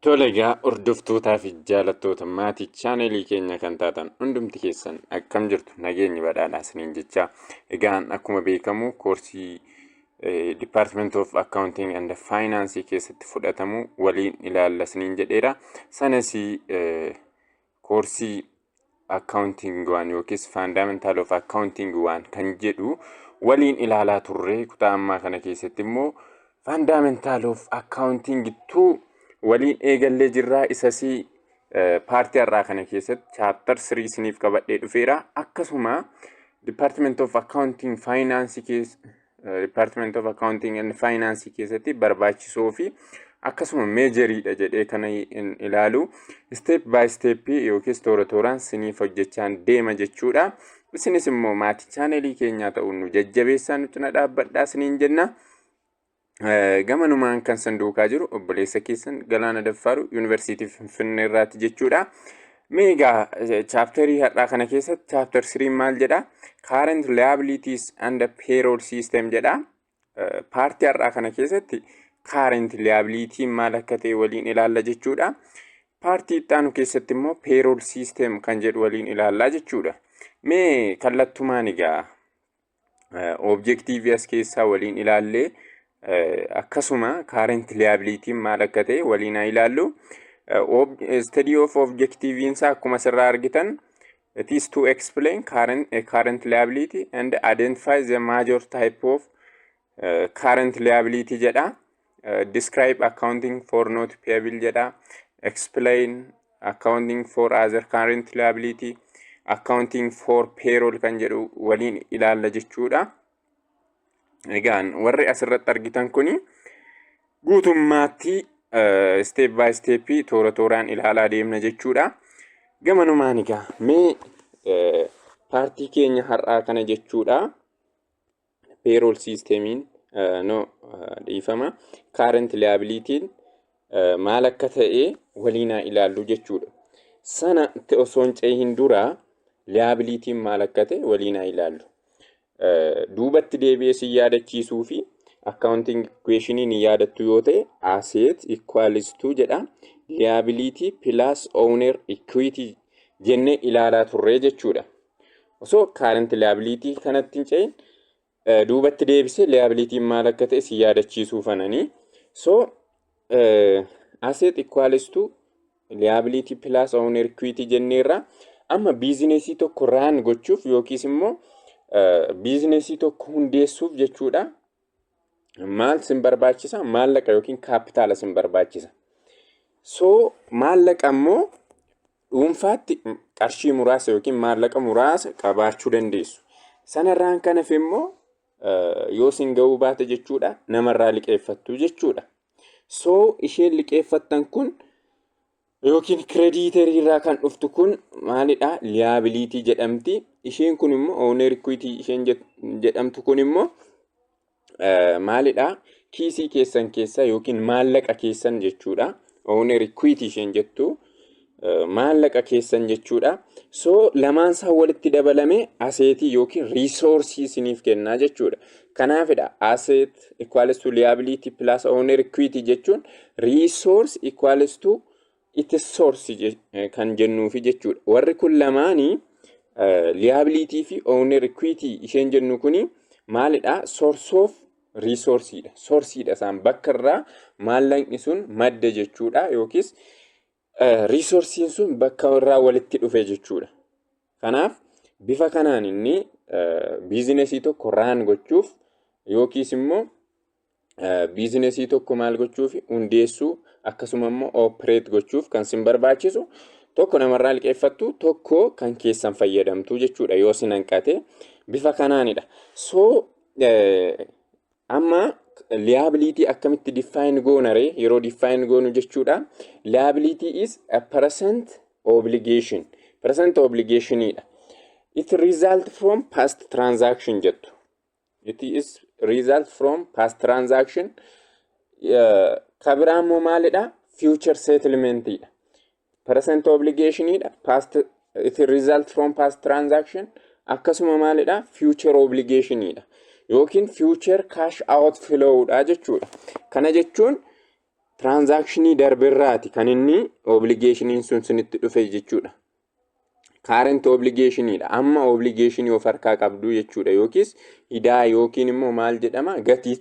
Tole egaa hordoftootaa fi jaalattoota maatii chaaneelii keenya kan taatan hundumti keessan akkam jirtu nageenyi badhaadhaa isiniin jechaa egaan akkuma beekamu koorsii Department of Accounting and Finance keessatti fudhatamu waliin ilaalla isiniin jedheera sanas eh, koorsii accounting waan yookiis fundamental of accounting waan kan jedhu waliin ilaalaa turre kutaa ammaa kana keessatti immoo fundamental of accounting tu waliin eegallee jirraa isasii paartii har'aa kana keessatti chaaptar sirii isiniif qabadhee dhufeera akkasuma department of accounting finance keessa Department of Accounting and Finance keessatti barbaachisoo fi akkasuma meejeriidha jedhee kana hin ilaalu. Step by step yookiis toora tooraan siniif hojjechaan deema jechuudha. Isinis immoo maatii chaaneelii keenyaa ta'uun nu jajjabeessaa nutti na dhaabbadhaa siniin jenna. Eh, Gamanumaan kan san duukaa jiru obboleessa keessan Galaana Daffaaru Yuunivarsiitii Finfinnee irraati jechuudha. Mee egaa chaapterii har'aa kana keessatti chaapter 3 maal jedha? Current liabilities and payroll system jedha. Paartii har'aa kana keessatti current liability maal akka ta'e waliin ilaalla jechuudha. Paartii itti aanu keessatti immoo payroll system kan jedhu waliin ilaalla jechuudha. Mee kallattumaan egaa objektiivii as keessaa waliin ilaallee akkasuma kaarent liyaabiliitiin maal akka ta'e waliin haa ilaallu. Study of objektiiviin isaa akkuma asirraa argitan it is to explain current, current liability and identify the major type of current liability jedha describe accounting for not payable jedha explain accounting for other current liability accounting for payroll kan jedhu waliin ilaalla jechuudha. Egaan warri asirratti argitan kuni guutummaatti step by step toora tooraan ilaalaa deemna jechuudha. Gamanumaan egaa mee paartii keenya har'aa kana jechuudha. payroll systemiin no dhiifama current liability'n maal akka ta'e waliinaa ilaallu jechuudha. Sana osoo hin cehin dura liability'n maal akka ta'e waliinaa ilaallu. Duubatti deebi'ee si yaadachiisuu fi accounting equationii ni yaadattu yoo ta'e asset equals to jedha liability plus owner equity jennee ilaalaa turre jechuudha. Osoo current liability kanatti hin ce'in eh, duubatti deebisee liability maal akka ta'e si yaadachiisuu fananii. So eh, asset equals to liability plus owner equity jenneerra. Amma biizinesii tokko raan gochuuf yookiis immoo eh, biizinesii tokko hundeessuuf jechuudha. Maal sin barbaachisa? Maallaqa yookiin kaappitaala sin barbaachisa. So maallaqa immoo dhuunfaatti qarshii muraasa yookiin maallaqa muraasa qabaachuu dandeessu. Sanarraan kan hafe immoo yoo sin ga'uu baate jechuudha namarraa liqeeffattu jechuudha. So isheen liqeeffattan kun yookiin kireediiterii irraa kan dhuftu kun maalidha liyaabiliitii jedhamti isheen kun immoo ooner ikwiitii isheen jedhamtu kun immoo maalidha kiisii keessan keessa yookiin maallaqa keessan jechuudha ooner ikwiitii isheen jettu maallaqa keessan jechuudha so lamaan isaa walitti dabalame aseetii yookiin riisoorsii isiniif kennaa jechuudha kanaafidha aseet equals to liability plus owner equity jechuun resource equals to its source je- eh, kan jennuufi jechuudha. Warri kun lamaanii eh, liability fi owner equity isheen jennu kuni maalidha? Source of resource dha. Source dha isaan bakka irraa maallaqni sun madda jechuudha yookiis riisorsiin sun bakka irraa walitti dhufe jechuudha. Kanaaf bifa kanaan inni biizinesii tokko raan gochuuf yookiis immoo biizinesii tokko maal gochuuf hundeessuu akkasuma immoo oopereet gochuuf kan sin barbaachisu tokko namarraa liqeeffattu tokko kan keessan fayyadamtu jechuudha yoo sin hanqate bifa kanaanidha. So Amma liability akkamitti define goona ree yeroo define goonu jechuudha. Liability is a present obligation. Present obligation dha. It result from past transaction jettu. It is result from past transaction. Uh, Kabiraammoo maalidha? Future settlement dha. percent obligation dha past it result from past transaction akkasuma maalidha future obligation dha yookiin future cash out flow dha jechuudha kana jechuun transaction darberraati kan inni obligationiin sun sinitti dhufe jechuudha kaarent obligeeshiniidha. Amma obligeeshinii of harkaa qabdu jechuudha yookiis idaa yookiin immoo maal jedhama gatii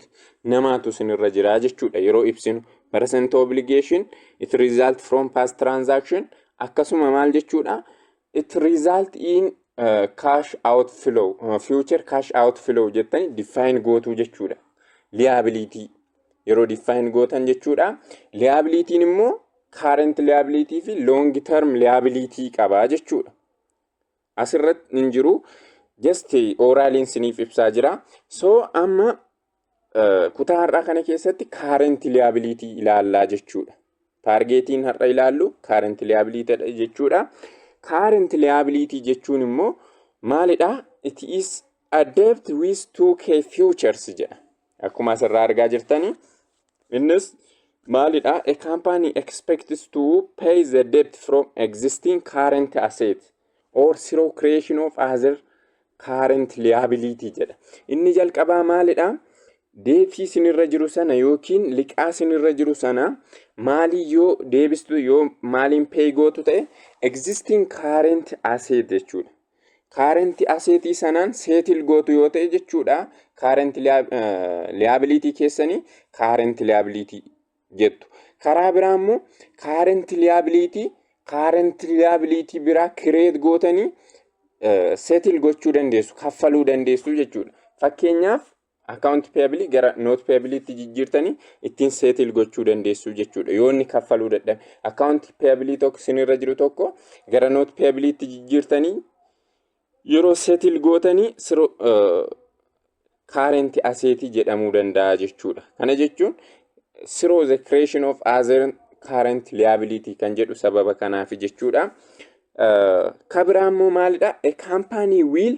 namaatu sinirra jira jechuudha yeroo ibsinu. Percent obligation it result from past transaction akkasuma maal jechuudha it result in uh, cash outflow uh, future cash outflow jettanii define gootuu jechuudha. Liability yeroo define gootan jechuudha. Liabilitiin immoo current liability fi long term liability qaba jechuudha. Asirratti hin jiru just oraaliin siniif ibsaa jira. So amma eh, kutaa har'aa kana keessatti current liability ilaallaa jechuudha. Taargeetiin har'a ilaallu current liability dha jechuudha. Current liability jechuun immoo maalidha? It is a debt with 2k futures jedha. Akkuma asirraa argaa jirtani innis maalidha? A company expects to pay the debt from existing current asset or through creation of other current liability jedha. Inni jalqabaa maalidha? Deetii sinirra jiru sana yookiin liqaa sinirra jiru sana maalii yoo deebistu yoo maaliin pay gootu ta'e existing current asset jechuudha. Kaarentii aseetii sanaan seetil gootu yoo ta'e jechuudha. Kaarentii liyaabiliitii keessanii kaarentii liyaabiliitii jettu. Karaa biraa immoo kaarentii liyaabiliitii kaarentii liyaabiliitii biraa kireet gootanii seetil gochuu dandeessu, kaffaluu dandeessu jechuudha. Fakkeenyaaf Account payable gara not payable tti jijjiirtanii ittiin settle gochuu dandeessu jechuudha. Yoo inni kaffaluu dadhabe. Account payable tokko sinirra jiru tokko gara not payable tti jijjiirtanii yeroo settle gootanii siroo current asset jedhamuu danda'a jechuudha. Kana jechuun through the creation of other current liability kan jedhu sababa kanaaf jechuudha. Kabiraan immoo maalidha? A company will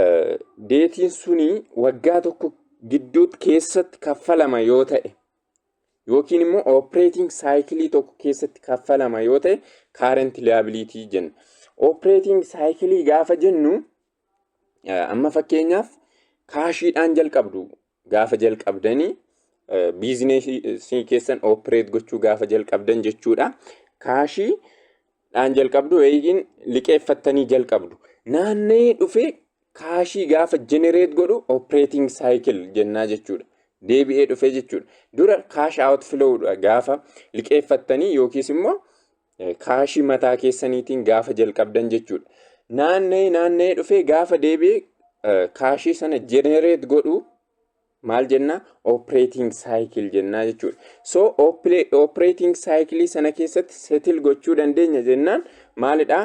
eh, deetiin suni waggaa tokko gidduutti keessatti kaffalama yoo ta'e yookiin immoo operating saayikilii tokko keessatti kaffalama yoo ta'e current liability jenna. Operating saayikilii gaafa jennu eh, amma fakkeenyaaf kaashiidhaan jalqabdu gaafa jalqabdanii eh, biizineesii keessan oopereet gochuu gaafa jalqabdan jechuudha. Kaashii dhaan jalqabdu yookiin liqeeffattanii jalqabdu. Naanna'ee dhufee kaashii gaafa jenereet godhu oopereeting saayikil jennaa jechuudha. Deebi'ee dhufee jechuudha. Dura kaash aawut filoowudha gaafa liqeeffattanii yookiis immoo Kaashii mataa keessaniitiin gaafa jalqabdan jechuudha. Naanna'ee naanna'ee dhufee gaafa deebi'ee kaashii sana jenereet godhu maal jennaa operating cycle jennaa jechuudha. So operating cycle sana keessatti settle gochuu dandeenya jennaan maalidhaa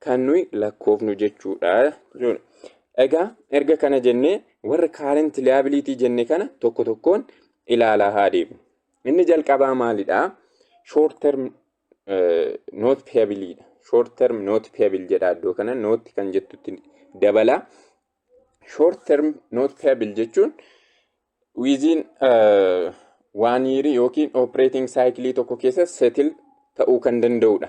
kan nuyi lakkoofnu jechuudha jechuudha. Egaa erga kana jennee warra kaarent liyaabiliitii jenne kana tokko tokkoon ilaalaa haa deemu. Inni jalqabaa maalidhaa? Short term noot peebiliidha. Short term noot peebil jedha iddoo kana nootti kan jettutti dabala. Short term noot peebil jechuun wiiziin waan yiirii yookiin operating saayikilii tokko keessa setil ta'uu kan danda'udha.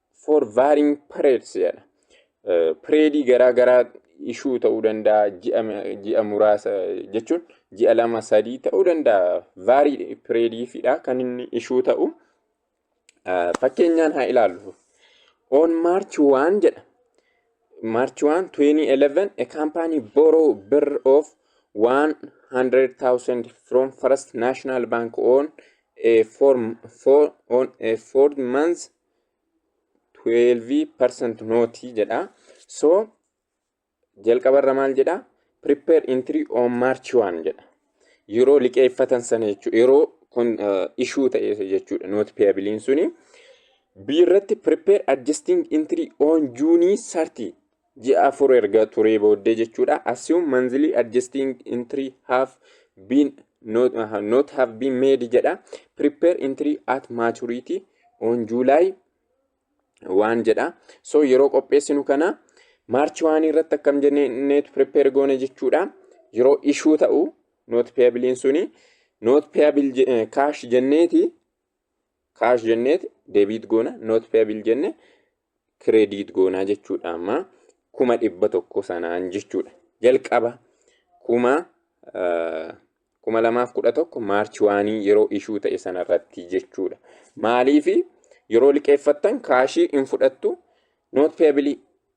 for varying periods jedha. Pireedii garaa garaa ishuu ta'uu danda'a ji'a muraasa jechuun ji'a lama sadii ta'uu danda'a vaarii pireediifidha kan inni ishuu ta'u. Fakkeenyaan haa ilaallu. On March 1 jedha. March 1 2011 a company borrow birr of 100,000 from First National Bank on a four, four, on a four months 12% nooti jedha. So jalqabarra maal jedha? Prepare entry on March 1 jedha. Yeroo liqeeffatan sana jechuudha. Yeroo kun ishuu ta'e jechuudha. Nooti peeyabiliin suni. B irratti prepare adjusting entry on June 30 ji'a afur erga turee booddee jechuudha. Assume monthly adjusting entry have been not, uh, not have been made jedha. Prepare entry at maturity on July waan jedha. So yeroo qopheessinu kana maarchi waan irratti akkam jenneetu prepare goone jechuudha. Yeroo ishuu ta'u not payable suni not payable kaash jenneeti kaash jenneet deebiit goona noot peebil jenne kireediit goonaa jechuudha amma kuma dhibba tokko sanaan jechuudha jalqaba kuma kuma lamaaf kudha tokko maarchi waanii yeroo ishuu ta'e sanarratti jechuudha maaliifi yeroo liqeeffattan kaashii hin fudhattu noot peebilii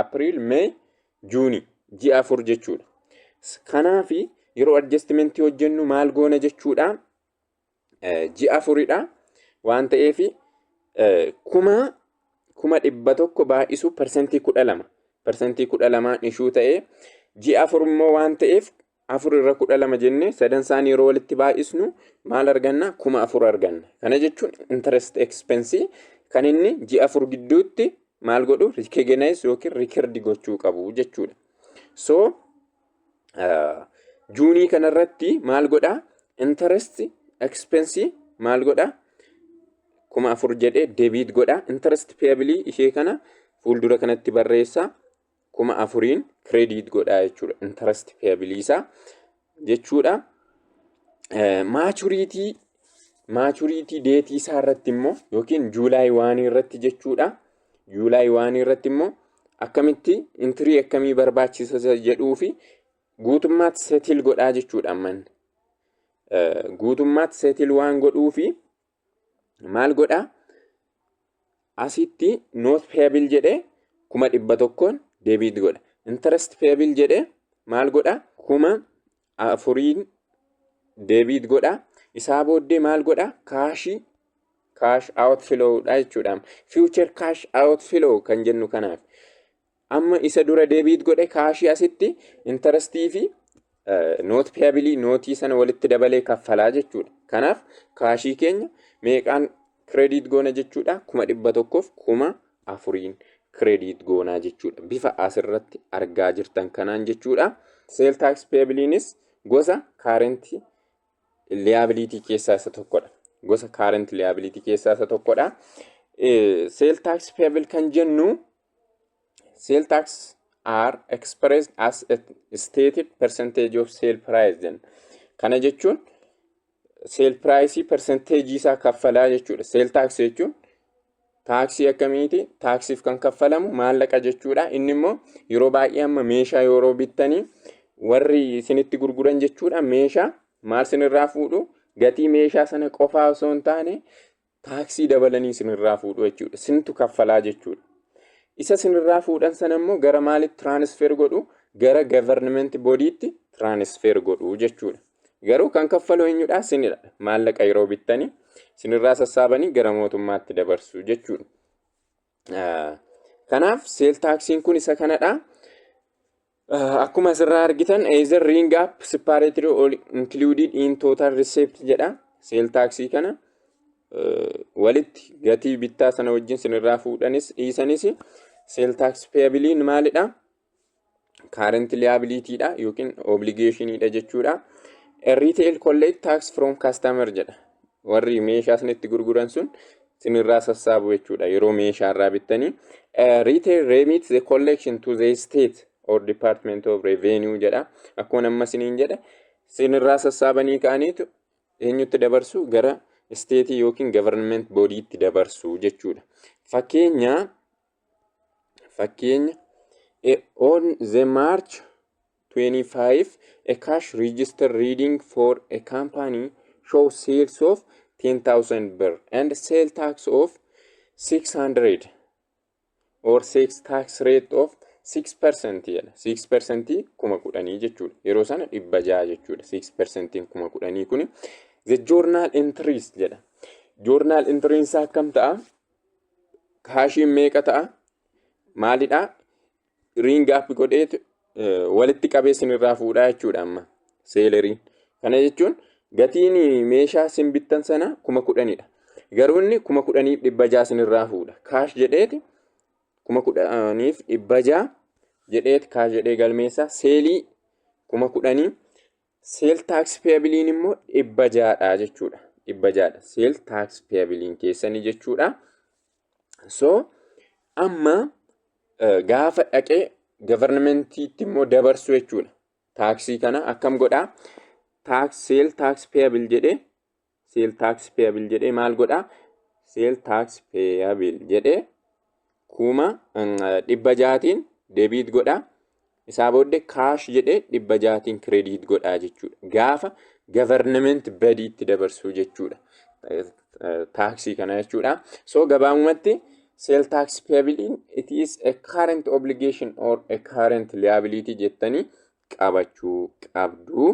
April, May, June ji'a afur jechuudha. Kanaaf yeroo adjustment hojjennu maal goona jechuudha? Ji'a afuridha waan ta'eef kuma kuma dhibba tokko baay'isu parsantii kudha lama parsantii kudha lamaan ishuu ta'ee ji'a afur immoo waan ta'eef 4 irra 12 jennee sadan isaanii yeroo walitti baay'isnu maal arganna? 4000 arganna. Kana jechuun interest expense kan inni ji'a afur gidduutti maal godhu recognize yookiin record gochuu qabu jechuudha. So uh, juunii kanarratti maal godha? Interest expense maal godha? 4000 jedhee debit godha. Interest payable ishee kana fuuldura kanatti barreessa. kuma afuriin credit godhaa jechuudha. Interest payable isaa jechuudha. Maturity maturity deetii isaa irratti immoo yookiin juulaay waanii irratti jechuudha. Juulaay waanii irratti immoo akkamitti intirii akkamii barbaachisa jedhuu fi guutummaatti seetil godhaa jechuudha amman. Guutummaatti seetil waan godhuu fi maal godha asitti noot peebil jedhe kuma dhibba tokkoon deebiit godha intarest peebil jedhe maal godha kuma afuriin deebiit godha isaa booddee maal godha kaashii kaash out flow dha jechuudha future kaash out flow kan jennu kanaaf Amma isa dura deebiit godhe kaashii asitti intarastii fi noot piyabilii nootii sana walitti dabalee kaffalaa jechuudha. Kanaaf kaashii keenya meeqaan kireediit goona jechuudha kuma dhibba tokkoof kuma afuriin kireediit goonaa jechuudha. Bifa asirratti argaa jirtan kanaan jechuudha. Seel taaks piyabiliinis gosa kaarentii liyaabiliitii keessaa isa tokkodha. Gosa kaarentii liyaabiliitii keessaa isa tokkodha. Seel taaks piyabil kan jennu sale tax are expressed as a stated percentage of sale price jenna. Kana jechuun sale price percentage isaa kaffalaa jechuudha. Sale tax jechuun taaksii akkamiiti? Taaksiif kan kaffalamu maallaqa jechuudha. Inni immoo yeroo baay'ee amma meeshaa yeroo bittanii warri isinitti gurguran jechuudha meeshaa maal sinirraa fuudhu gatii meeshaa sana qofaa osoo hin taane taaksii dabalanii sinirraa fuudhu jechuudha. Sintu kaffalaa jechuudha. Isa sinirraa fuudhan sana immoo gara maalitti tiraanisfeer godhu? Gara gavarnimenti bodiitti tiraanisfeer godhu jechuudha. Garuu kan kaffalu eenyudha? Sinidha. Maallaqa yeroo bittanii sinirraa sassaabanii gara mootummaatti dabarsu jechuudha. Kanaaf seel taaksiin kun isa kanadha. Akkuma asirraa argitan either ring up separately or included in total receipt jedha seel taaksii kana. walitti gatii bittaa sana wajjin sinirraa fuudhanis dhiisanis seel taaks peeyabiliin maalidha? kaarenti liyaabiliitiidha yookiin obligeeshiniidha jechuudha. Retail collect tax from customer jedha. Warri meeshaa isinitti gurguran sun sinirraa sassaabu jechuudha yeroo meeshaa irraa bittanii. Retail remit the collection to the state or department of revenue jedha. Akkuma namma siniin jedhe sinirraa sassaabanii ka'aniitu eenyutti dabarsu gara isteetii yookiin government boodiitti dabarsu jechuudha. Fakkeenya Fakkeenya eh, On the March 25, a cash register reading for a company show sales of 10,000 birr and sale tax of 600 or sales tax rate of 6% jedha. 6% kuma kudhanii jechuudha. Yeroo sana dhibba ja'a jechuudha. 6% kuma kudhanii kuni the journal entries jedha. Journal entries akkam ta'a? kaashiin meeqa ta'a maalidha riingi app godheet walitti qabee sinirraa fuudha jechuudha amma seeleriin kana jechuun gatiin meeshaa sin bittan sana kuma kudhanidha garuu inni kuma kudhaniif dhibba ja'a sinirraa fuudha kaash jedheeti kuma kudhaniif dhibba ja'a jedheet kaash jedhee galmeessaa seelii kuma kudhanii Seel taaksi peeyabiliin immoo dhibba jaadha jechuudha. Dhibba jaadha. Seel taaksi peeyabiliin keessanii jechuudha. So amma gaafa dhaqee gavarnamentiitti immoo dabarsu jechuudha. Taaksii kana akkam godhaa? Seel taaksi peeyabil jedhee seel taaksi peeyabil jedhee maal godha seel taaksi peeyabil jedhee kuma dhibba jaatiin deebiit godha isaa booddee kaash jedhee dhibba jaatiin kireediit godha jechuudha gaafa gavarnamenti badii itti dabarsuu jechuudha taaksii kana jechuudha soo gabaabumatti seel taaksi peeyabiliin it is a current obligation or a current liability jettanii qabachuu qabdu.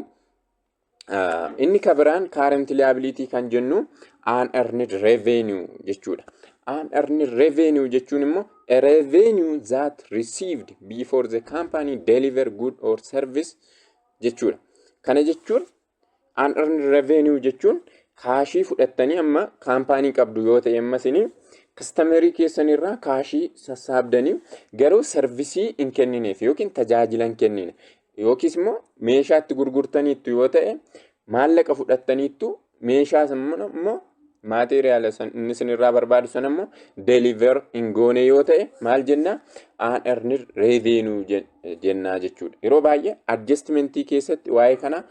Inni ka biraan current liability kan jennu unearned revenue jechuudha. Unearned revenue jechuun immoo a revenue that received before the company deliver good or service jechuudha. Kana jechuun unearned revenue jechuun kaashii fudhattanii amma kaampaanii qabdu yoo ta'e amma isinii kastamerii keessanirraa kaashii sassaabdanii garuu sarvisii hin kennineef yookiin tajaajila hin kennine. Yookiis immoo meeshaa itti gurgurtaniittu yoo ta'e maallaqa fudhattaniittu meeshaa immoo maateeriyaala inni isinirraa barbaadu sana immoo deliver hin goone yoo ta'e maal jenna aanarnir reeveenuu jennaa jechuudha. Yeroo baay'ee adjustmentii keessatti waa'ee kana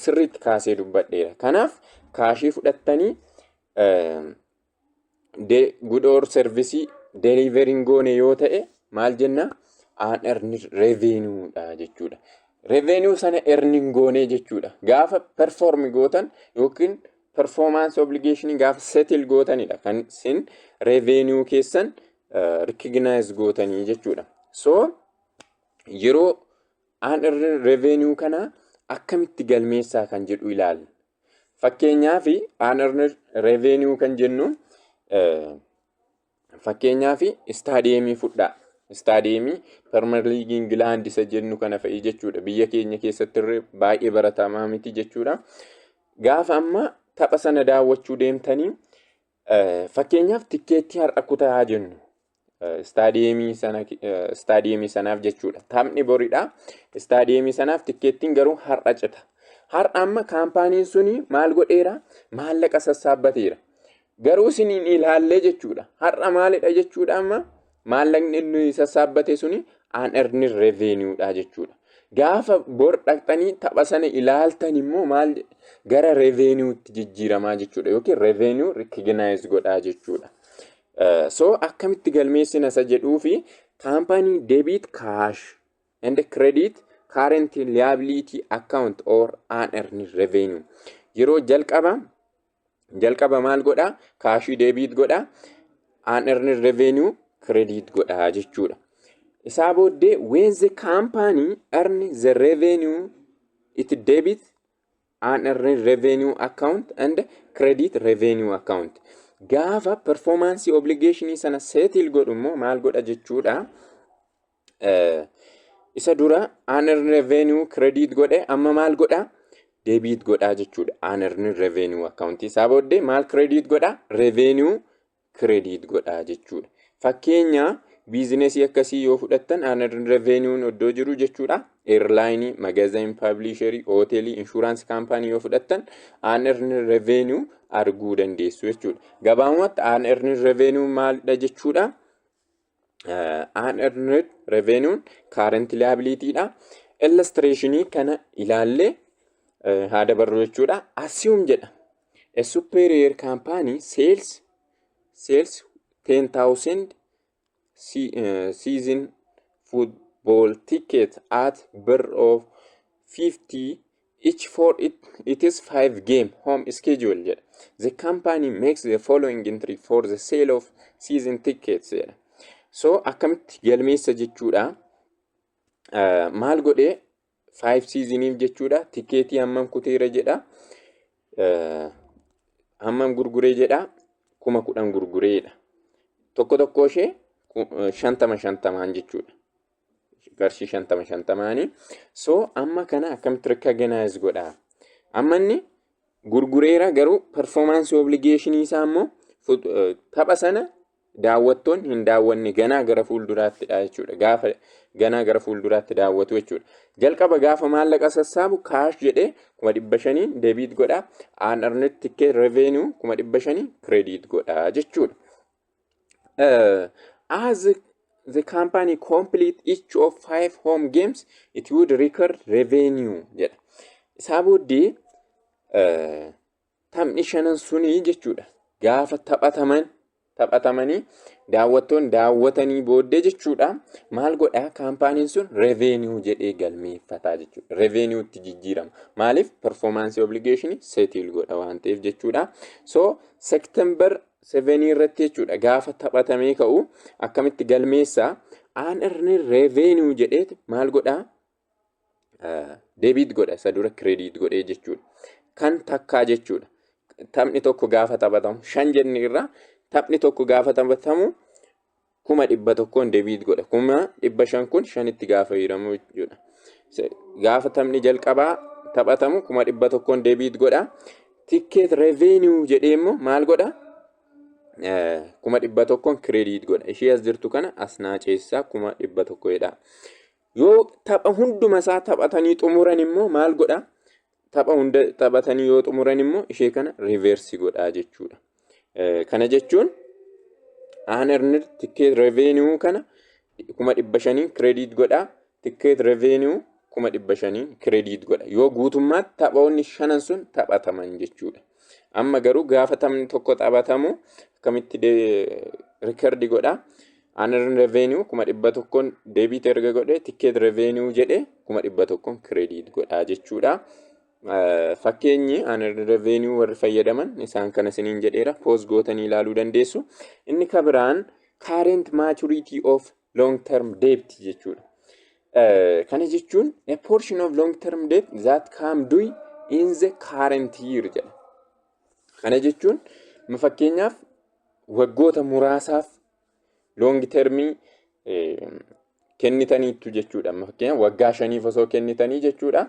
sirriitti kaasee dubbadheera. Kanaaf kaashii fudhattanii de- good or service delivering goone yoo ta'e maal jenna aan erni revenue dha jechuudha. Revenue sana erning goone jechuudha. Gaafa perform gootan yookiin performance obligation gaafa settle gootanidha kan sin revenue keessan uh, recognize gootanii jechuudha. So yeroo aan erni revenue kana akkamitti galmeessaa kan jedhu ilaalla. Fakkeenyaaf unearned revenue kan jennu fakkeenyaaf istaadiyeemii fudhaa. Istaadiyeemii Permer Liigii Ingilaand isa jennu kana fa'i jechuudha. Biyya keenya keessatti irree baay'ee baratamaa miti jechuudha. Gaafa amma tapha sana daawwachuu deemtanii Fakkeenyaaf tikkeettii har'a kutaa haa jennu. Istaadiyeemii sana istaadiyeemii sanaaf jechuudha. Taphni boridha. Istaadiyeemii sanaaf tikkeettiin garuu har'a cita. Har'a amma kaampaaniin suni maal godheera? Maallaqa sassaabbateera. Garuu isiniin ilaallee jechuudha. Har'a maalidha jechuudha amma Maallaqni inni sassaabbate suni unearned revenue dha jechuudha. Gaafa bor dhaqxanii tapha sana ilaaltan immoo maal gara revenuetti jijjiiramaa jechuudha yookiin revenue recognize godhaa jechuudha. Eh, So akkamitti galmeessina isa jedhuu fi kaampaanii debit cash and credit current liability account or unearned revenue yeroo jalqaba Jalqaba maal godhaa? Kaashii deebiit godhaa. Aan earned revenue credit godhaa jechuudha. Isaa booddee when the company earn the revenue it debit aan earned revenue account and credit revenue account. Gaafa performance obligation sana settle godhu immoo maal godha jechuudha? isa dura aaner revenue credit godhe amma maal godha debiit godhaa jechuudha aaner revenue account isaa booddee maal credit godha revenue credit godhaa jechuudha fakkeenya biizinesii akkasii yoo fudhattan aaner revenue'n oddoo jiru jechuudha eerlaayinii magazin paablisherii hoteelii inshuraansi kaampaanii yoo fudhattan aaner revenue arguu dandeessu jechuudha gabaabumatti aaner revenue maalidha jechuudha unearned revenue current liability dha. Illustrationii kana ilaallee haa dabarru jechuudha. Assume jedha. A superior company sales sales 10,000 season football ticket at birr of 50 Each for it, it is five game home schedule jedha. The company makes the following entry for the sale of season tickets jedha. So akkamitti galmeessa jechuudha. Uh, maal godhee five seasoniif jechuudha. Tikeetii hammam kuteera jedha. Uh, hammam gurguree jedha. Kuma kudhan gurgureedha. Tokko tokko ishee ku- uh, shantama shantamaan jechuudha. qarshii shantama shantamaani. So amma kana akkamitti recognize godha? Amma inni gurgureera garuu performance obligation isaa immoo fut- eh, tapha sana daawwattoon hin daawwanne ganaa gara fuulduraattidha jechuudha. Gaafa ganaa gara fuulduraatti daawwatu jechuudha. Jalqaba gaafa maallaqa sassaabu kaash jedhee kuma dhibba shaniin debiit godha. Aan arnet tikkee revenue kuma dhibba shanii kireediit godha jechuudha. uh, as the company complete each of five home games it would record revenue jedha isaa booddee uh, taphni shanan sunii jechuudha gaafa taphataman taphatamanii daawwattoon daawwatanii booddee jechuudha maal godhaa kaampaaniin sun revenue jedhee galmeeffataa jechuudha revenue itti jijjiirama maaliif performance obligation settle godha waan ta'eef jechuudha so september 7 irratti jechuudha gaafa taphatamee ka'u akkamitti galmeessa aan irni revenue jedheet maal godhaa deebiit godha isa dura kireediit godhee jechuudha kan takkaa jechuudha taphni tokko gaafa taphatamu shan jenne irraa taphni tokko gaafa taphatamu kuma dhibba tokkoon debiit godha. Kuma dhibba shan kun shanitti gaafa hiiramu jechuudha. Se- Gaafa taphni jalqabaa taphatamu kuma dhibba tokkoon debiit godha. Tikkeet revenue jedhee immoo maal godha? Eh, kuma dhibba tokkoon kireediit godha. Ishee as jirtu kana as naaceessaa kuma dhibba tokko jedha. Yoo tapha hunduma isaa taphatanii xumuran immoo maal godha? tapha hunda taphatanii yoo xumuran immoo ishee kana riiveersi godhaa jechuudha. Kana jechuun aanerni tikkeet revenue kana kuma dhibba shaniin kireediit godhaa tikkeet revenue kuma dhibba shaniin kireediit godha yoo guutummaatti taphoonni shanan sun taphataman jechuudha. Amma garuu gaafa taphni tokko taphatamu akkamitti rikardii godhaa Aanan revenue kuma dhibba tokkoon deebiit erga godhe tikkeet revenue jedhe kuma dhibba tokkoon kireediit godhaa jechuudha. Fakkeenyi aanan revenue warri fayyadaman isaan kana isiniin jedheera poos gootanii ilaaluu dandeessu. Inni ka biraan current maturity of long term debt jechuudha. Kana jechuun a portion of long term debt that come due in the current year jedha. Kana jechuun fakkeenyaaf waggoota muraasaaf Loongi termii kennitaniittu jechuudha. Fakkeenyaaf waggaa shaniif osoo kennitanii jechuudha.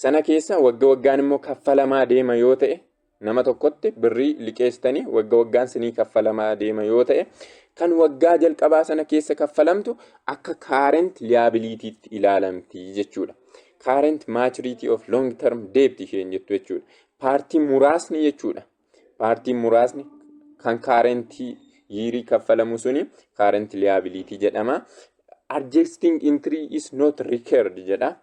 Sana keessa wagga waggaan immoo kaffalamaa deema yoo ta'e nama tokkotti birrii liqeessitanii wagga waggaan sinii kaffalamaa deema yoo ta'e kan waggaa jalqabaa sana keessa kaffalamtu akka kaarent liyaabiliitiitti ilaalamti jechuudha. Kaarent maachiriitii of long term deebti isheen jettu jechuudha. Paartii muraasni jechuudha. paartiin muraasni kan kaarentii yiirii kaffalamu suni kaarentii liyaabiliitii jedhama. Adjusting entry is not required jedha.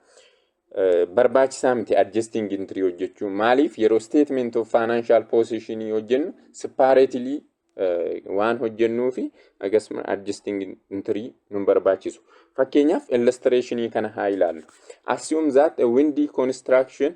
Eh, Barbaachisaa miti adjusting entry hojjechuu. Maaliif yeroo statement of financial position hojjennu separately eh, waan hojjennuu fi akkasuma adjusting entry nun barbaachisu. Fakkeenyaaf illustrationii kana haa ilaallu. Assume that a windy construction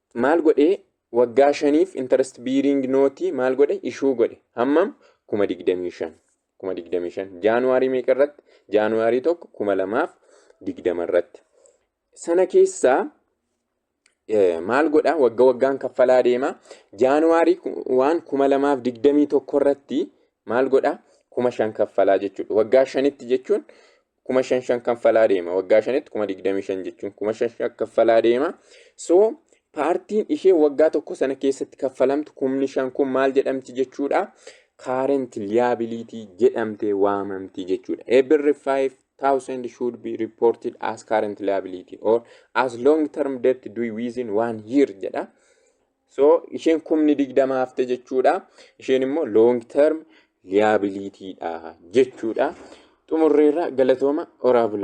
Maal godhee waggaa shaniif interest bearing note maal godhe ishuu godhe hammam kuma digdamii shan kuma digdamii shan jaanuwaarii meeqa irratti jaanuwaarii tokko kuma lamaaf digdama irratti sana keessaa maal godha wagga waggaan kaffalaa deema jaanuwaarii waan kuma lamaaf digdamii tokko irratti maal godha kuma shan kaffalaa jechuudha waggaa shanitti jechuun kuma shan shan kaffalaa deema waggaa shanitti kuma digdamii shan jechuun kuma shan shan kaffalaa deema so paartiin ishee waggaa tokko sana keessatti kaffalamtu kumni shan kun maal jedhamti jechuudha kaarent liyaabiliitii jedhamtee waamamti jechuudha eebirri 5000 should be reported as current liability or as long term debt due within one year jedha So isheen kumni digdama hafte jechuudha. Isheen immoo long term liability dha jechuudha. Xumurreerra galatooma oraa bulaa.